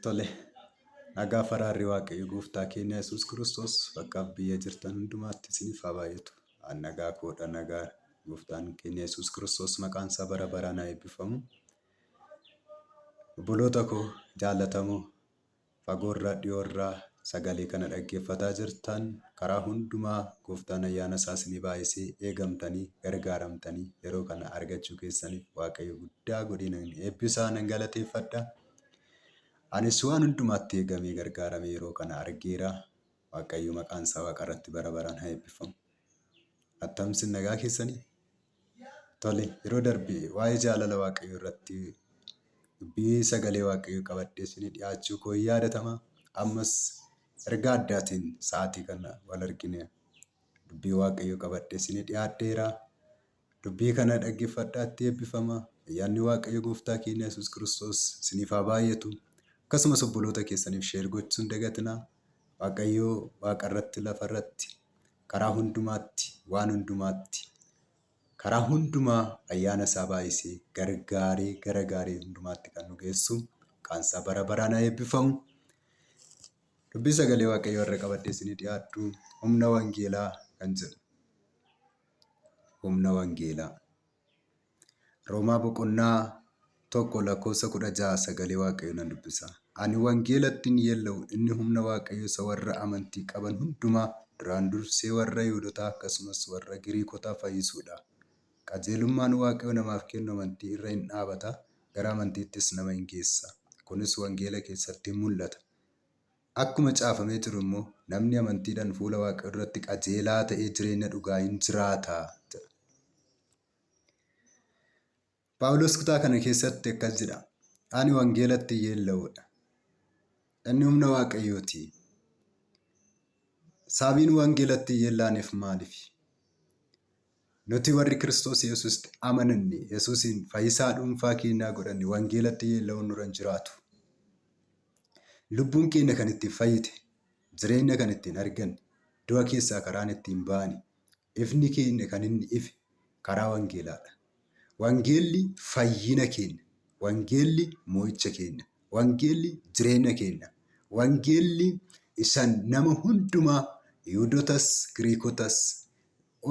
Tole, nagaa faraarri Waaqayyo gooftaa keenya Yesuus Kiristoos bakkaaf biyya jirtan hundumaatti isiniif haa baay'atu. An nagaa koodha nagaa gooftaan keenya Yesuus Kiristoos maqaan isaa bara baraan haa eebbifamu. Obboloota koo jaallatamoo Fagoorraa dhiyoorraa sagalee kana dhaggeeffataa jirtan karaa hundumaa gooftaan ayyaana isaa isinii baay'isee eegamtanii gargaaramtanii yeroo kana argachuu keessaniif waaqayyo guddaa godhee nan eebbisaa nan galateeffadha. Anis waan hundumaatti eegamee gargaaramee yeroo kana argeera. Waaqayyo maqaan isaa waaqa irratti bara baraan haa eebbifamu. Attam isin nagaa keessanii? Tole, yeroo darbe waa'ee jaalala Waaqayyoo irratti dubbii sagalee Waaqayyoo qabadhee isinii dhiyaachuu koo hin yaadatama. Ammas ergaa addaatiin sa'aatii kana wal argine dubbii Waaqayyoo qabadhee isinii dhiyaadheera. Dubbii kana dhaggeeffadhaa itti eebbifama. Ayyaanni Waaqayyo Gooftaa keenya Yesuus Kiristoos isiniif haa baay'atu. Akkasumas obboloota keessaniif sheer gochuu hin dagatinaa. Waaqayyo waaqa irratti lafa irratti Karaa hundumaatti, waan hundumaatti, karaa hundumaa ayyaana isaa baay'isee gargaaree gara gaarii hundumaatti kan nu geessu maqaan isaa bara baraan haa eebbifamu. Dubbii sagalee Waaqayyoo irra qabadhee isinii dhiyaadhu humna wangeelaa kan jedhu. Humna wangeelaa. Roomaa boqonnaa tokko lakkoofsa kudha ja'a sagalee waaqayyo nan dubbisa. Ani wangeelatti hin yeella'u inni humna waaqayyo isa warra amantii qaban hundumaa duraan dursee warra Yihudotaa akkasumas warra Giriikotaa fayyisuudha. Qajeelummaan waaqayyo namaaf kennu amantii irra hin dhaabata gara amantiittis nama hin geessa. Kunis wangeela keessatti hin mul'ata. Akkuma caafamee jiru immoo, Namni amantiidhaan fuula Waaqayyoo duratti qajeelaa ta'ee jireenya dhugaa in jiraata jedha. Phaawulos kutaa kana keessatti akkas jedha, Ani wangeelatti yeella'uudha. Inni humna Waaqayyooti. Sababiin wangeelatti yeellaaneef maaliif? Nuti warri Kiristoos Yesuusitti amananne, Yesuusiin fayyisaa dhuunfaa keennaa godhanne wangeelatti yeella'uun nurra hin jiraatu. Lubbuun keenna kan ittiin fayyite, jireenna kan ittiin arganne, du'a keessaa karaan ittiin baane, ifni keenna kan inni ife karaa wangeelaadha. Wangeelli fayyina keenna. Wangeelli moo'icha keenna. Wangeelli jireenna keenna. Wangeelli isan nama hundumaa Yihudotas, Giriikotas,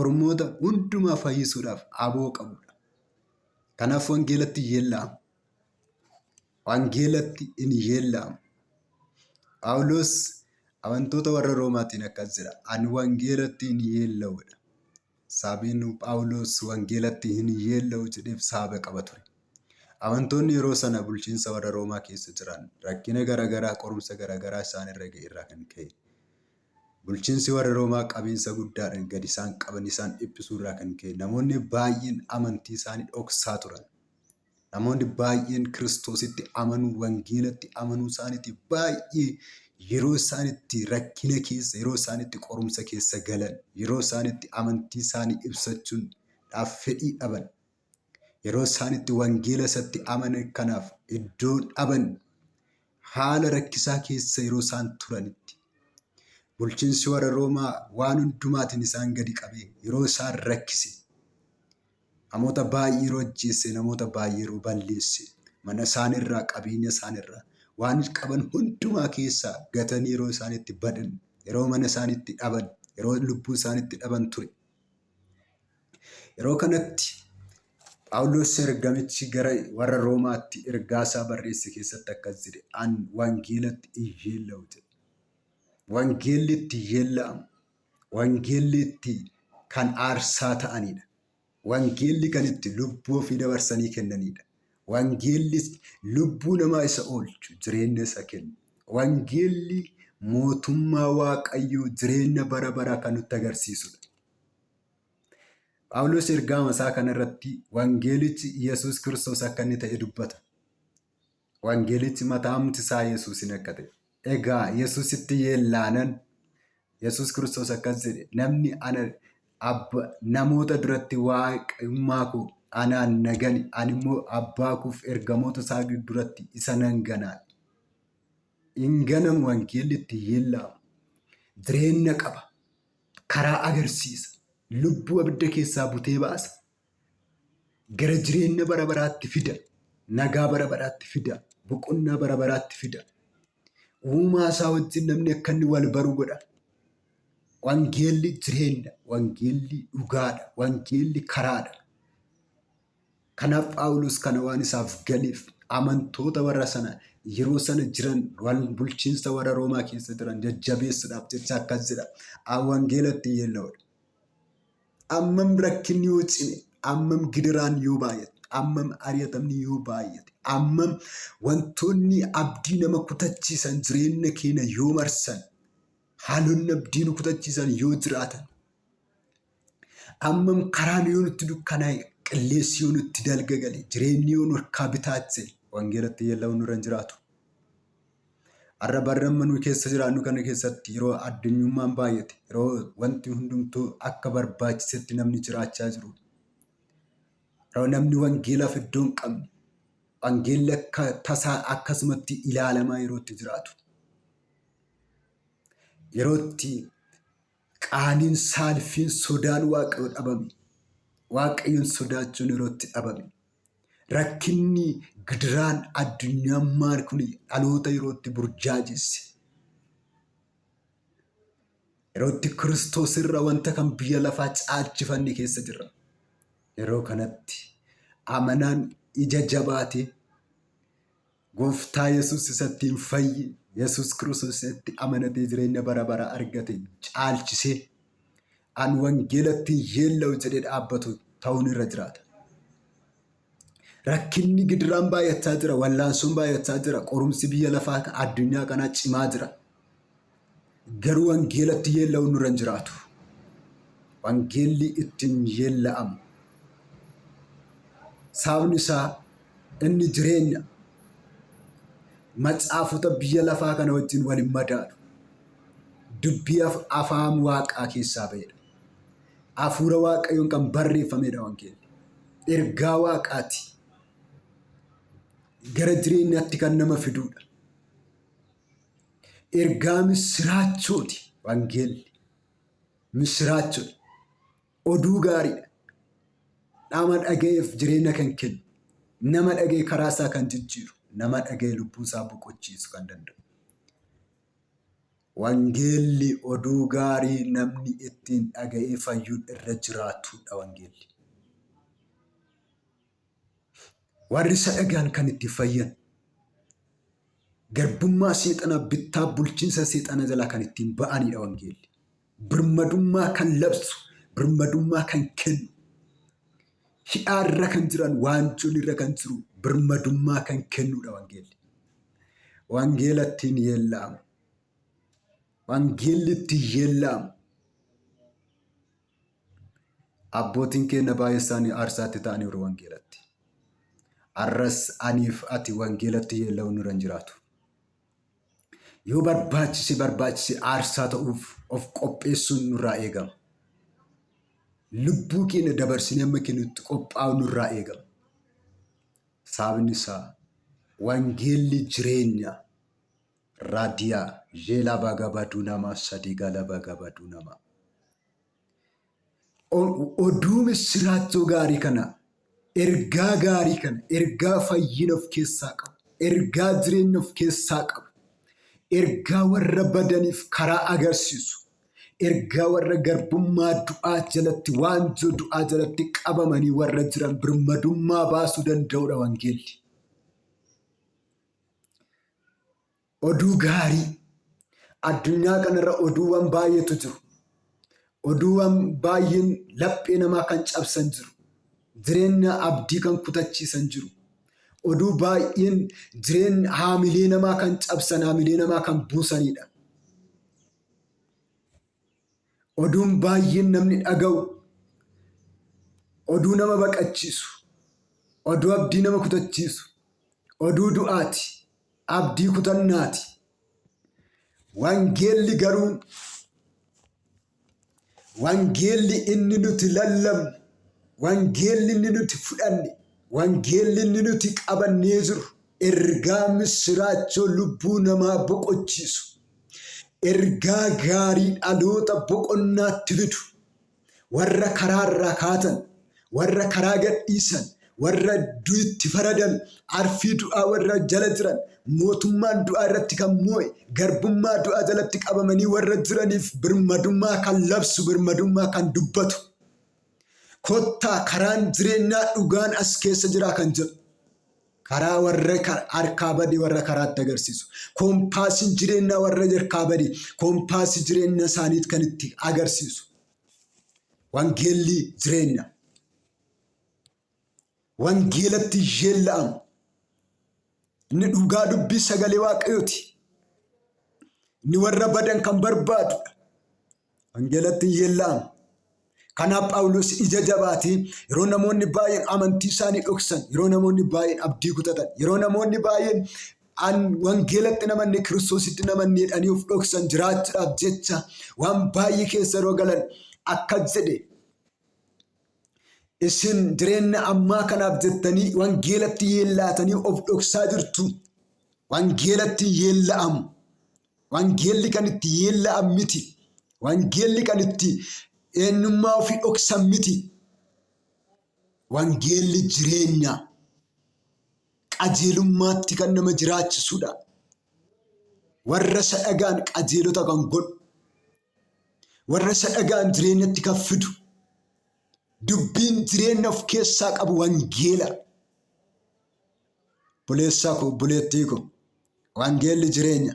Ormoota hundumaa fayyisuudhaaf aboo qabudha. Kanaaf wangeelatti yeella'ama. Wangeelatti in yeella'ama. Phaawulos amantoota warra Roomaatiin akkas jedha. Ani wangeelatti in yeella'udha. Saabeen Phaawulos wangeelatti hin yeella'u jedheef saaba qaba ture. Amantoonni yeroo sana bulchiinsa warra Roomaa keessa jiran rakkina garaagaraa qorumsa garaagaraa isaan irra ga'e irraa kan ka'e Bulchiinsi warra Roomaa qabiinsa guddaadhaan gad isaan qaban isaan dhiphisuu irraa kan ka'e namoonni baay'een amantii isaanii dhoksaa turan. Namoonni baay'een Kiristoositti amanuu, wangeelatti amanuu isaaniitiif baay'ee yeroo isaan itti rakkina keessa, yeroo isaan itti qorumsa keessa galan, yeroo isaan itti amantii isaanii ibsachuudhaaf fedhii dhaban, Yeroo isaan itti wangeela isatti amanan kanaaf iddoo dhaban haala rakkisaa keessa yeroo isaan turanitti bulchiinsi warra Roomaa waan hundumaatiin isaan gadi qabee yeroo isaan rakkise namoota baay'ee yeroo ajjeesse namoota baay'ee yeroo balleesse mana isaanirraa qabeenya isaanirraa waan qaban hundumaa keessaa gatanii yeroo isaan itti badan yeroo mana isaanitti dhaban yeroo lubbuu isaanitti dhaban ture. Yeroo kanatti Phaawulos ergamichi gara warra Roomaatti ergaa isaa barreesse keessatti akkas jedhe, An wangeelatti in yeella'u jedhe. Wangeelli itti yeella'amu, wangeelli itti kan aarsaa ta'anidha. Wangeelli kan itti lubbuu ofii dabarsanii kennanidha. Wangeellis lubbuu namaa isa oolchu, jireenya isa kennu. Wangeelli mootummaa Waaqayyoo jireenya bara baraa kan nutti agarsiisudha. Phaawulos ergaama isaa kana irratti wangeelichi Yesuus Kiristoos akka inni ta'e dubbata. Wangeelichi mataamti isaa Yesuusin akka ta'e. Egaa Yesuusitti yeellaanan Yesuus Kiristoos akkas jedhe, namni ana abba, namoota duratti waaqummaa koo anaan na gane, ani immoo abbaa koof ergamoota isaa duratti isa nan ganaan. Hin ganamu wangeelli itti yeellaamu. Jireenya qaba. Karaa agarsiisa. Lubbuu abidda keessaa butee baasa. Gara jireenya bara baraatti fida. Nagaa bara baraatti fida. Boqonnaa bara baraatti fida. Uumaa isaa wajjin namni akka inni wal baru godha. Wangeelli jireenya, wangeelli dhugaadha, wangeelli karaadha. Kanaaf Phaawulos kana waan isaaf galeef amantoota warra sana yeroo sana jiran wal bulchiinsa warra Roomaa keessa jiran jajjabeessuudhaaf jecha akkas jedha. Wangeela ittiin yeella'udha. Ammam rakkinni yoo cime, ammam gidiraan yoo baay'ate, ammam ari'atamni yoo baay'ate, ammam wantoonni abdii nama kutachiisan jireenya keenya yoo marsan, haalonni abdii nu kutachiisan yoo jiraatan, ammam karaan yoo nutti dukkanaa'e, qilleensi yoo nutti dalgagale, jireenyi yoo nu harkaa bitaatte wangeelatti yeella'uun nurra hin jiraatu. Har'a barri amma nuyi keessa jiraannu kana keessatti yeroo addunyummaan baay'ate, yeroo wanti hundumtuu akka barbaachisetti namni jiraachaa jiru, yeroo namni wangeelaaf iddoo hin qabne, wangeelli akka tasaa akkasumatti ilaalamaa yeroo itti jiraatu, yeroo itti Qaaniin, saalfiin, sodaan Waaqayyoo dhabame. Waaqayyoon sodaachuun yeroo itti dhabame. Rakkinni, gidiraan, addunyummaan kun dhaloota yeroo itti burjaajesse. Yeroo itti Kiristoos irra wanta kan biyya lafaa caalchifanne keessa jirra. Yeroo kanatti amanaan ija jabaatee Gooftaa Yesuus isa ittiin fayye, Yesuus Kiristoos isa itti amanatee jireenya bara baraa argate caalchisee an wangeela ittiin yeella'u jedhee dhaabbatu ta'uun irra jiraata. Rakkinni gidiraan baay'achaa jira, wallaansoon baay'achaa jira, qorumsi biyya lafaa ka- addunyaa kanaa cimaa jira. Garuu wangeelatti yeella'uun nurra hin jiraatu. Wangeelli ittiin yeella'amu. Sababni isaa inni jireenya macaafota biyya lafaa kana wajjin wal hin madaalu. Dubbii afaan waaqaa keessaa ba'edha. Hafuura waaqayyoon kan barreeffamedha wangeelli. Ergaa waaqaati. Gara jireenyaatti kan nama fidudha. Ergaa missiraachooti wangeelli. Missiraachoodha. Oduu gaariidha. Nama dhaga'eef jireenya kan kennu, nama dhaga'e karaa isaa kan jijjiiru, nama dhaga'e lubbuu isaa boqochiisu kan danda'u. Wangeelli oduu gaarii namni ittiin dhaga'ee fayyuun irra jiraatudha wangeelli. Warri isa dhaga'an kan itti fayyan, garbummaa seexanaa, bittaa bulchiinsa seexanaa jalaa kan ittiin ba'aniidha wangeelli. Birmadummaa kan labsu, birmadummaa kan kennu, hidhaa irra kan jiran, waanjoon irra kan jiru, birmadummaa kan kennuudha wangeelli. Wangeela ittiin yeella'amu. Wangeelli ittiin yeella'amu. Abbootiin keenna baay'ee isaanii aarsaatti ta'aniiru wangeelatti. Arras aniif ati wangeelatti yeella'uu nurra hin jiraatu. Yoo barbaachise barbaachise aarsaa ta'uuf of qopheessuun nurraa eegama. Lubbuu keenya dabarsinee amma kennutti qophaa'u nurraa eegama. Sababni isaa wangeelli jireenya. Radia jela baga badu nama sadi gala baga badu nama. O- Oduu missiraachoo gaarii kana ergaa gaarii kana ergaa fayyina of keessaa qabu ergaa jireenya of keessaa qabu ergaa warra badaniif karaa agarsiisu ergaa warra garbummaa du'aa jalatti waanjoo du'aa jalatti qabamanii warra jiran birmadummaa baasuu danda'udha wangeelli. Oduu gaarii. Addunyaa kanarra oduuwwan baay'eetu jiru. Oduuwwan baay'een laphee namaa kan cabsan jiru. Jireenya abdii kan kutachiisan jiru. Oduu baay'een jireenya, haamilee namaa kan cabsan, haamilee namaa kan buusanidha. Oduun baay'een namni dhaga'u, oduu nama baqachiisu, oduu abdii nama kutachiisu, oduu du'aati, abdii kutannaati. Wangeelli garuu wangeelli inni nuti lallabnu, wangeelli inni nuti fudhanne, wangeelli inni nuti qabannee jirru ergaa misiraachoo lubbuu namaa boqochiisu. Ergaa gaarii dhaloota boqonnaatti fidu. Warra karaa irraa kaatan, warra karaa gadhiisan, warra du'itti faradan, arfii du'aa warra jala jiran, mootummaan du'aa irratti kan moo'e, garbummaa du'aa jalatti qabamanii warra jiraniif birmadummaa kan labsu, birmadummaa kan dubbatu. Kottaa karaan jireenyaa dhugaan as keessa jiraa kan jedhu. Karaa warra harkaa bade warra karaatti agarsiisu. Koompaasiin jireenyaa warra harkaa bade koompaasii jireenya isaaniit kan itti agarsiisu. Wangeelli jireenya. Wangeelatti yeella'amu. Inni dhugaa dubbii sagalee waaqayyooti. Inni warra badan kan barbaadudha. Wangeelatti hin yeella'amu. Kanaaf Phaawulos ija jabaatii yeroo namoonni baay'een amantii isaanii dhoksan, yeroo namoonni baay'een abdii kutatan, yeroo namoonni baay'een an wangeelatti namanne kiristoositti namanne jedhanii of dhoksan jiraachuudhaaf jecha waan baay'ee keessa yeroo galan akkas jedhe. Isin jireenya ammaa kanaaf jettanii wangeelatti yeellaatanii of dhoksaa jirtu. Wangeelatti hin yeella'amu. Wangeelli kan itti yeella'an miti. Wangeelli kan itti eenyummaa ofii dhoksan miti. Wangeelli jireenya qajeelummaatti kan nama jiraachisudha. Warra isa dhagaan qajeelota kan godhu, warra isa dhagaan jireenyatti kan fidu, dubbiin jireenya of keessaa qabu wangeela. Obboleessaa koo, obboleettii koo, wangeelli jireenya.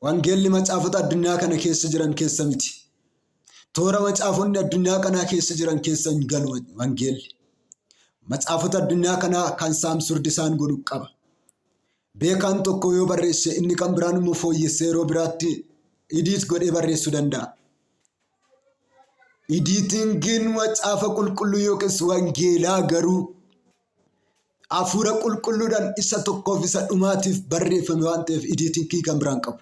Wangeelli macaafota addunyaa kana keessa jiran keessa miti. Toora macaafonni addunyaa kanaa keessa jiran keessa hin galu wangeelli. Macaafota addunyaa kanaa kan saamsurdi isaan godhu qaba. Beekaan tokko yoo barreesse inni kan biraan immoo fooyyessee yeroo biraatti idiit godhee barreessuu danda'a. Idiitingiin macaafa qulqulluu yookiis wangeelaa garuu Hafuura qulqulluudhaan isa tokkoof isa dhumaatiif barreeffame waan ta'eef idiitinkii kan biraan qabu.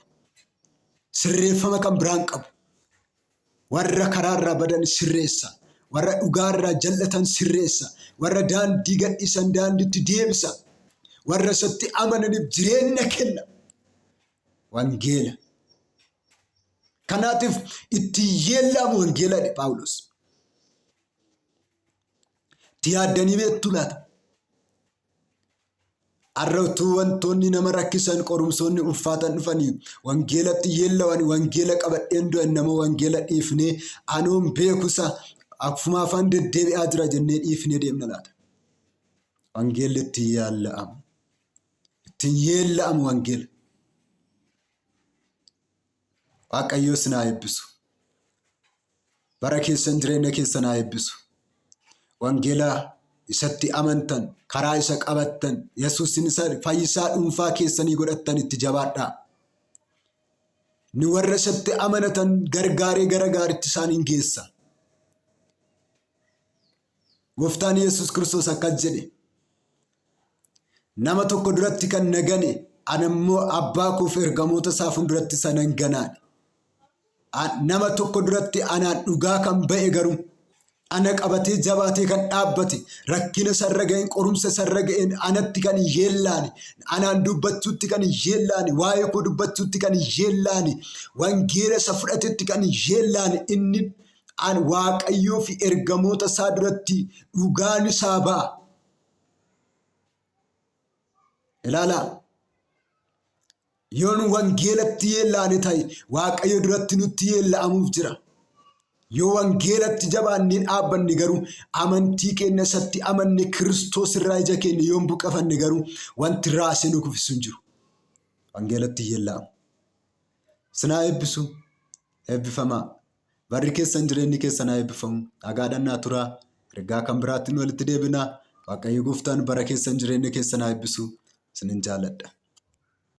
Sirreeffama kan biraan qabu. Warra karaa irraa badan sirreessa. Warra dhugaa irraa jal'atan sirreessa. Warra daandii gadhiisan daandiitti deebisa. Warra isatti amananiif jireenya kenna. Wangeela. Kanaatiif ittiin yeellaamu wangeeladha Phaawulos. Itti yaaddanii beektuu laata? Har'a utuu wantoonni nama rakkisan qorumsoonni ulfaatan dhufanii wangeelatti yeellawan wangeela qabadheen du'an nama wangeela dhiifnee anuun beekusa akkuma afaan deddeebi'aa jira jennee dhiifnee deemna laata? Wangeelli ittiin yaalla'amu. Ittiin yeella'amu wangeela. Waaqayyoo sin haa eebbisu. Bara keessan jireenya keessan haa eebbisu. Wangeela isatti amantan, karaa isa qabattan, Yesuusin isa fayyisaa dhuunfaa keessanii godhattan itti jabaadhaa. Ni warra isatti amanatan gargaaree gara gaaritti isaaniin geessa. Gooftaan Yesuus Kiristoos akkas jedhe. Nama tokko duratti kan na gane, ana immoo abbaa koo fi ergamoota isaa fuulduratti isa nan ganaadha. A- Nama tokko duratti anaan dhugaa kan ba'e garuu ana qabatee jabaatee kan dhaabbate rakkina sarra ga'een qorumsa sarra ga'een anatti kan hin yeellaane anaan dubbachuutti kan hin yeellaane waa'ee koo dubbachuutti kan hin yeellaane wangeela isa fudhatetti kan hin yeellaane inni an waaqayyoo fi ergamoota isaa duratti dhugaan isaa ba'a. Ilaalaa! Yoon wangeelatti yeellaane ta'e Waaqayyo duratti nutti yeella'amuuf jira. Yoo wangeelatti jabaannee dhaabbanne garuu amantii keenya isatti amanne Kiristoos irraa ija keenya yoo hin buqqafanne garuu wanti raasee nu kuffisu hin jiru. Wangeelatti yeella'amu. Sinaa eebbisu eebbifamaa. Barri keessan jireenyi keessan haa eebbifamu. Nagaadhaan naa turaa. Ergaa kan biraattiin walitti deebinaa. Waaqayyo gooftaan bara keessan jireenya keessan haa eebbisu. Isinin jaaladha.